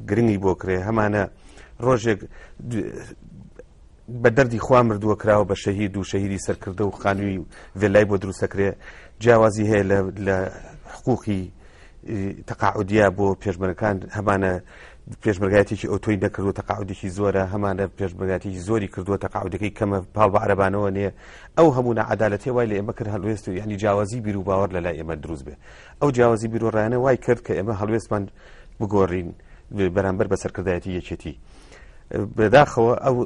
گرنگی بۆ کرێ هەمانە ڕۆژێک بە دەردی خوا مردووە کراوە بە شەهید و شەهیدی سەرکردە و خانووی ڤێلای بۆ دروستەکرێ جیاوازی هەیە لە حقوقی تەقاعودیا بۆ پێشمەرەکان هەمانە پێشمەرگاتێکی ئۆتۆی دەکردو تەقاعودێکی زۆرە هەمانە پێشمەرگاتێکی زۆری کردووە تەقاعودەکەی کەمە پاڵ بە عربانەوە نیە ئەو هەموو عدالەتێ وای لە ئێمە کرد هەلوێست و ینی جیاوازی بیر و باوەڕ لە لای ئێمە دروست بێ ئەو جیاوازی بیرۆڕایانە وای کرد کە ئێمە هەڵوێستمان بگۆڕین بەرامبەر بە سەرکردایەتی یەکێتی بەداخەوە ئەو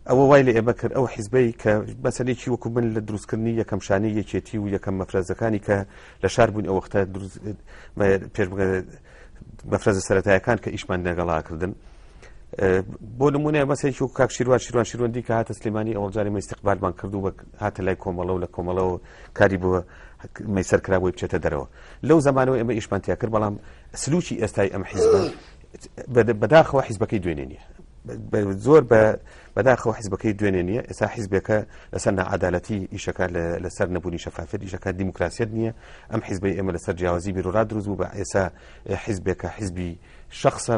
ئەوە وای لە ئێمە کرد ئەو حیزبەی کە بەسەرێکی وەکو من لە دروستکردنی یەکەم شانی یەکێتی و یەکەم مەفرەزەکانی کە لە شار بوون ئەو وەختە پێش مەفرەزە سەتایەکان کە ئیشمان نەگەڵاکردن بۆ نمونە مەسێکی و کاک شیروان شیروان شیروەندی کە هاتە سلێمانی ئەوڵجاری مەستیقبالمان کردو بە هاتە لای کۆمەڵە و لە کۆمەڵەوە کاری بووە میسر کرا بۆی بچێتە دەرەوە لەو زمانەوە ئێمە ئیشمان تیا کرد بەڵام سلوکی ئێستای ئەم حیزب بەداخەوە حیزبەکەی دوێنێ نیە زۆر بە بەداخەوە حیزبەکەی دوێنێ نیە ئێستا حیزبەکە لەسەر نەعادالەتی ئیشەکە لەسەر نەبوونی شەفافێت ئیشەکە دیموکراسیت نییە ئەم حیزبی ئێمە لەسەر جیاوازی بیرورا دروست بوو بە ئێسا حیزبێکە حیزبی شخصە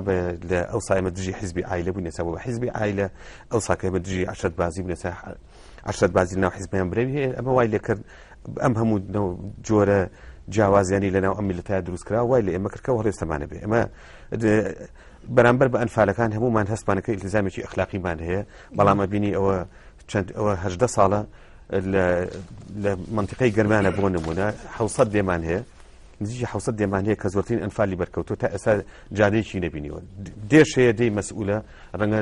لە ئەو سایمە دژی حیزبی ئایلە بوو نێسا بە حیزبی ئایلە ئەو ساکەمە دژی عشرت بازی بنێسا عشرەت بازی ناو حزبیان برەوی هەیە ئەمە وای لێکرد ئەم هەموو جۆرە جیاوازیانی لەناو ئەم میلتا دروستکرا وای لە ئێمە کردکە هەڵێستەمانە بێ ئەمە بەرامبەر بە ئەنفالەکان هەمومان هەستمانەکە ئیلزامێکی ئەخلاقیمان هەیە بەڵامە بینی ئەوە چەند ئەوە هەدە ساڵە لە منطقەی گەرمانە بۆ نمونە حوسەت دێمان هەیە نزیکی حوسەت دێمان هەیە کە زۆرترین ئەنفالی بەرکەوتو تا ئێستا جادەیەکی نبینیوە دێش هەیە دەی مەسئولە ڕەنگە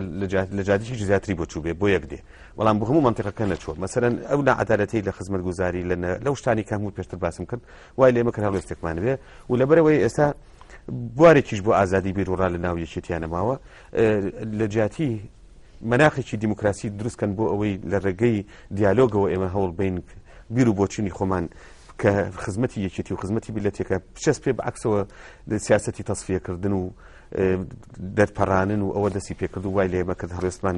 لە جادیی زیاتری بۆ چوو بێ بۆ یەک دێ بەڵام بۆ هەموو مەنتیقەکە نەچووە مەسەرەن ئەو نعادالەتی لە خزمەت گوزاری لە لەو شتانی کە هەموو پێشتر باسم کرد وای لێمە کە هەڵوێستێکمان بێ و لەبەرەوەی ئێستا بوارێکیش بۆ ئازادی بیرروڕا لە ناو یەکێتیانە ماوە لە جیاتی مناخێکی دیموکراسی دروستکەن بۆ ئەوەی لە ڕێگەی دیالۆگەوە ئێمە هەوڵ بین بیر و بۆچینی خۆمان کە خزمەتی یەکێتی و خزمەتی بلەتێکە پچەس پێ بەعکسەوە سیاستی تەصفیەکردن و دەرپەڕانن و ئەوە دەستی پێکرد و وای لێمە کرد هەڵێستمان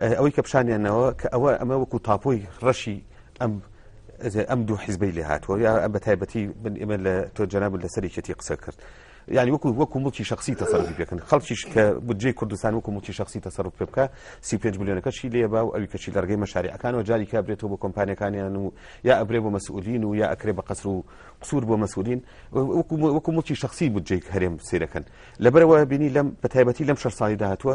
ئەوەی کە پیشانیانەوە کە ئەوە ئەمە وەکو تاپۆی ڕەشی ئەم ئەم دوو حیزبەی لێ هاتووە یا ئەم بە تایبەتی من ئێمە لە تۆ جەناب لە سەرێکێتی قسە کرد یعنی وەکو وەکو مڵکی شخصی تەسەرفی پێکن خەڵکیش کە بجێ کوردستان وەکو مڵکی شخصی تەسەرف پێ بکە سی پێنج میلیۆنەکەشی لێ با و ئەوی کەچی لەرگەی مەشارەکانەوە جاری کا برێتەوە بۆ کۆمپانیەکانیان و یا ئەبرێ بۆ مەسئولین و یا ئەکرێ بە قەسر و قسوور بۆ مەسئولین وەکو مڵکی شخصی بجێک هەرێم سیرەکەن لەبەرەوە بینی لەم بە تایبەتی لەم شەر ساڵی داهتووە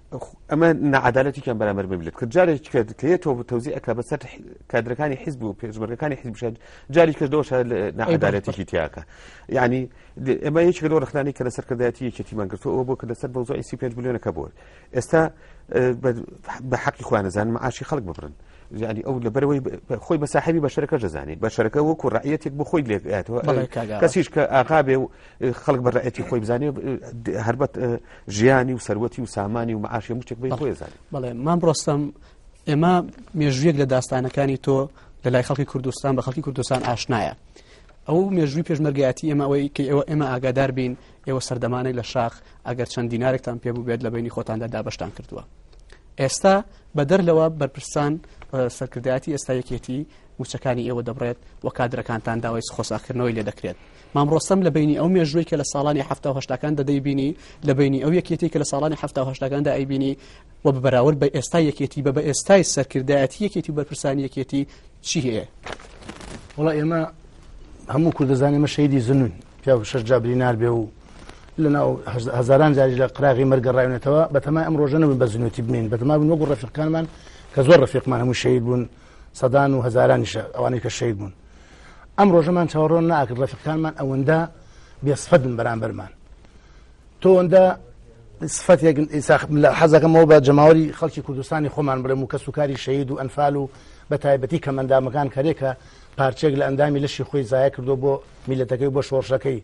ئەمە نەعادالەتیان بەرامەر ببلێت کە جارێک کرد کە تۆ تەوزی ئەک بەسەر کادرەکانی حیزب و پێشمەرگەکانی حیزب بشێت جاری کردەوە نەعادالەتیشی تیاکە یعنی ئەمە یەکی لەوە ڕخنانی کە لەسەر کردایەتی یەکێتیمان گرتوەوە بۆ کە لەسەر بەوزۆی سی پێنج بلیۆنەکە بۆر ئێستا بە حەقی خوانەزان معاشی خەڵک ببرن ینی ئەو لەبەرەوەی خۆی بە ساحبی بەشەرەکە دەزانێت بەشەرەکە وەکو ڕعەتێک بۆ خۆی لێکاتەوە کەسیش کە ئاغابێ و خەڵک بە ڕێتی خۆی بزانێ هەربەت ژیانی و سەروەتی و سامانی و معاشی مشتێک بی خۆی زانێ بڵێ مام ڕۆستم ئێمە مێژویەک لە داستانەکانی تۆ لە لای خەڵکی کوردستان بە خەڵکی کوردستان ئاشنایە ئەو مێژوی پێشمەرگایەتی ئێمە ئەوەی کە ئێوە ئێمە ئاگادار بین ئێوە سەردەمانێک لە شاخ ئەگەر چەند دینارێکتان پێ بوو بێت لە بینی خۆتاندا دابشتان کردووە ئێستا بەدەر لەوە بەرپرسان سەرکردایەتی ئێستا یەکێتی وچەکانی ئێوە دەبڕێت و کادرەکانتان داوای خۆساکردنەوەی لێ دەکرێت مام ڕۆستەم لە بەینی ئەو مێژووەی کە لە ساڵانی حەفتا و هەشتاکاندا دەیبینی، لە بەینی ئەو یەکێتیی کە لە ساڵانی حەفتا و هەشتاکاندا ئەیبینی و بە بەراورد بە ئێستای یەکێتی بە بە ئێستای سەرکردایەتی یەکێتی و بەرپرسانی یەکێتی چی هەیە؟ وڵا ئێمە هەموو کوردزانانی مە شەیدی زنون پیا شەش جابری نربێ و لە ناو هزاران جاری لە قراغی مەرگەڕاونێتەوە بەتەما ئەم ڕۆژەنە بە زنوێتی بمین بەتەما بن وەگو ڕفیقانمان کە زۆر ڕفیقمان هەموو شەید بوون سەدان و هەزارانیشە ئەوانەی کە شەید بوون ئەم ڕۆژەمان چاوەڕۆن ناکرد ڕەفقانمان ئەوەندە بێسفەدن بەرامبەرمان تۆوەندە سفەتێک لە حەزەکەمەوە بە جەماوەری خەڵکی کوردستانی خۆمان بڵێم و کەس و کاری شەید و ئەنفال و بە تایبەتی کەمەندامەکان کەرێکە پارچێک لە ئەندامی لەشی خۆی زایە کردو بۆ میلەتەکەی بۆ شۆڕشەکەی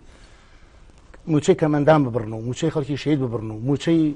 موچەی کەمەندان ببڕن و موچەی خەڵکی شەید ببڕن و موچەی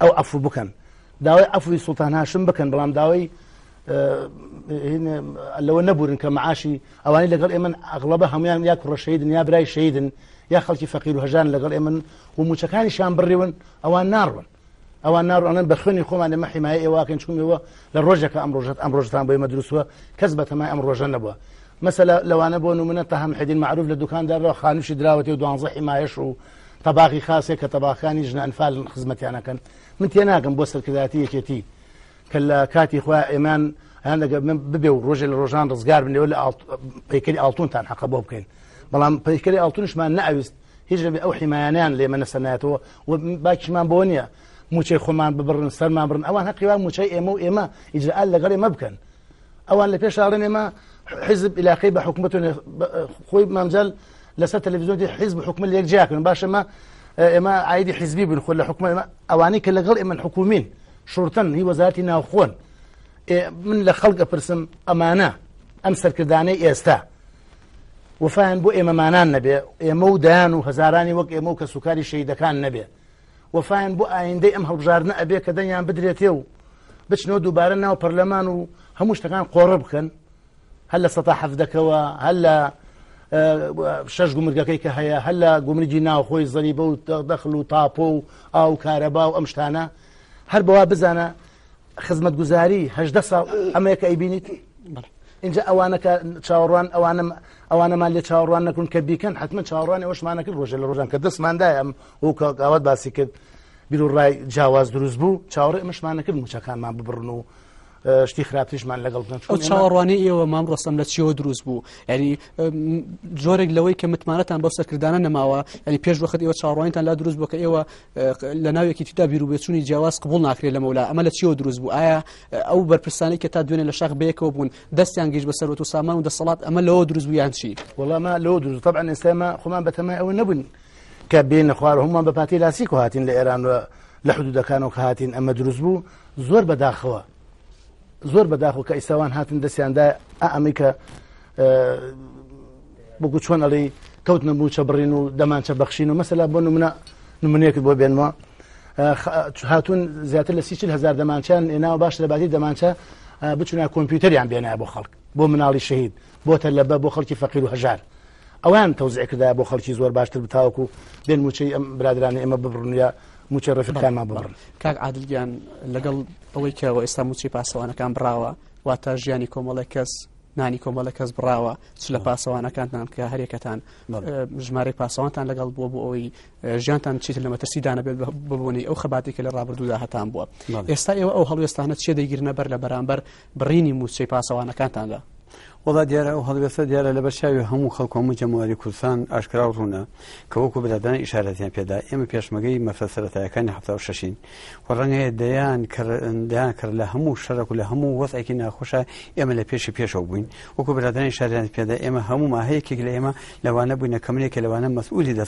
ئەو عفو بکەن داوای عفوی سلتان هاشم بکەن بەڵام داوای لەوە نەبورن کە معاشی ئەوانی لەگەڵ ئێمە ئەغڵبە هەمویان یا کوڕەشەیدن یا برای شەیدن یا خەڵکی فەقیر و هەژان لەگەڵ ئێمن و موچەکانیشان بڕیون ئەوان ناڕون ئەوان ناڕوانن بە خوێنی خۆمان لەمە حیمایە ئێواکەن چونەوە لە ڕۆژەکە ئەم ڕۆژەت ئەم ڕۆژتان بۆی مەدروسوە کەس بە تەمای ئەم ڕۆژە نەبووە مەسەلا لەوانە بۆ نمونە تەهام حدین معروف لە دوکاندارەوە خانوشی دراوەتی و دوانزە حیمایش و تەباخی خاسێک کە تەباخانی ژنە ئەنفال خزمەتیانەکەن من تێناگەم بۆ سەرکرداتی یەکێتی کە لە کاتی خۆ ئێمان هەیان لەگە من ببێ و ڕۆژێ لە ڕۆژان ڕزگار بنەوە لە پیکری ئاڵتونتان حەقە بۆ بکەین بەڵام پیکری ئاڵتونشمان نەویست هیچ لەبێ ئەو حیمایانیان لێمە نەسەنایەتەوە و باکیشمان بۆ نییە موچەی خۆمان ببڕن سەرمان بڕن ئەوان هەقیوان موچەی ئێمە و ئێمە ئیجرال لەگەڵ ئێمە بکەن ئەوان لە پێش ئاڵێن ئێمە حزب علاقەی بە حکوومەت خۆی مامجل لەسەر تەلەڤزیۆنی حزب حکومە لە یەک جیاکەن باشەمە ئێمە ئایدی حزبی بن خۆ لە حکومە ئەوانەی کە لەگەڵ ئێمە حکومین شورتن هی وەزارتی ناوخۆن من لە خەڵکە پرسم ئەمانە ئەم سەرکردانەی ئێستا وفاان بۆ ئێمەمانان نەبێ ئێمە و دایان و هەزارانی وەک ئێمە و کە سوکاری شەیدەکان نەبێ وەفایان بۆ ئایندەی ئەم هەڵبژاردنە ئەبێ کە دەنگیان بدرێتێ و بچنەوە دووبارە ناو پەرلەمان و هەموو شتەکان قۆڕە بکەن هەر لە سەتا حەفدەکەوە هەر لە شەش گومرگەکەی کە هەیە هەر لە گومرگی ناوخۆی زەری بە و دەخل و تاپۆ و ئاو کارەبا و ئەم شتانە هەر بەوا بزانە خزمەت گوزاری هەدە ساڵ ئەمەیەکە ئەیبینیت اینجا ئەوانەکە چاوەڕوان ئەوانم ئەوانەمان لە چاوەڕوان نەکرون کە بیکەن حتممە چاوەڕوانی ئەوشمانەکرد ڕۆژە لە ڕۆژان کە دەستماندای ئەم وەک کاک ئاوات باسی کرد بیر و ڕای جیاواز دروست بوو چاوەڕێ ئەمەشمان نەکرد موچەکانمان ببڕن و شتی خراپتیشمان لەگەڵ بکەن ئەو چاوەڕوانی ئێوە مام ڕستم لە چیەوە دروست بوو ینی جۆرێک لەوەی کە متمانەتان بەو سەرکردانە نەماوە ینی پێش وەخت ئێوە چاڕوانیتان لا دروست بوو کە ئێوە لە ناوێکی تیدا بیرروبێچووی جیاواز قبول ناکرێت لە مەولا ئەمە لە چیەوە دروست بوو ئایا ئەو بەرپرسانی کە تا دوێنێ لە شاخ بەیەکەوە بوون دەستیان گەیشت بە سەرەوە و سامان و دەسەڵات ئەمە لەوە دروست بوویان چی وەڵامە لەوە دروست طبعا ئێستاما خۆمان بەتەمای ئەوە نەبوون کە بێنە خوار هەمووان بە پاتی لاسیکۆ هاتین لە ئێران و لە حدودەکانەوە کە هاتین ئەمە دروست بوو زۆر بەداخەوە زۆر بەداخۆ کە ئیساوان هاتن دەستیاندا ئەمەی کە بگو چۆن ئەڵی کەوت نەبوو چە بڕین و دەمانچە بەخشین و مەسەلا بۆ نمونە نمونەیەکت بۆ بێنمەوە هاتون زیاتر لە سیچل هزار دەمانچیان ئێناوە باش لە باتی دەمانچە بچنا کۆمپیوتەریان بێنە بۆ خەڵک بۆ مناڵی شەهید بۆ تەلەبە بۆ خەڵکی فەقیر و هەژار ئەوان تەوزعی کردایە بۆ خەڵکی زۆر باشتر بتاوەکو و بێن موچەی ئەم برادرانی ئێمە ببڕن یا موچە ڕێفەکانمان ببڕن کاک عادلگیان لەگەڵ ئەوەی کەەوە ئێستا موچی پاسەوانەکان بڕاوە واتە ژیانی کۆمەڵی کەس نانی کۆمەڵە کەس بڕاوە چ لە پاسەوانەکانتان کە هەرێکەتان ژمارە پاسەوانتان لەگەڵ بووە بۆ ئەوەی ژیانتان چیت لە مەترسی دانەبێت ببوونی ئەو خەباتێکە لە ڕابردوودا هەتان بووە ئێستا ئێوە ئەو هەڵوێستانە چێ دەگیرنە بەر لە بەرامبەر بڕینی مووچەی پاسەوانەکانتاندا. وەڵا دیارە ئەو هەڵوێستە دیارە لەبەر چاوی هەموو خەڵک و هەموو جەماوەری کوردستان ئاشکرا و ڕوونە کە وەکو برادەران ئیشارەتیان پێدا ئێمە پێشمەگەی مەفە سەرەتایەکانی حەفتا و شەشین و ڕەنگە هەیە دەیان کڕ دەیان کڕ لە هەموو شەرەک و لە هەموو وەزعێکی ناخۆشە ئێمە لە پێشی پێشەوە بووین وەکو برادەران ئیشارەیان پێدا ئێمە هەموومان هەیەکێک لە ئێمە لەوانە بووینە کەمنێکە لەوانە مەسئولی دەست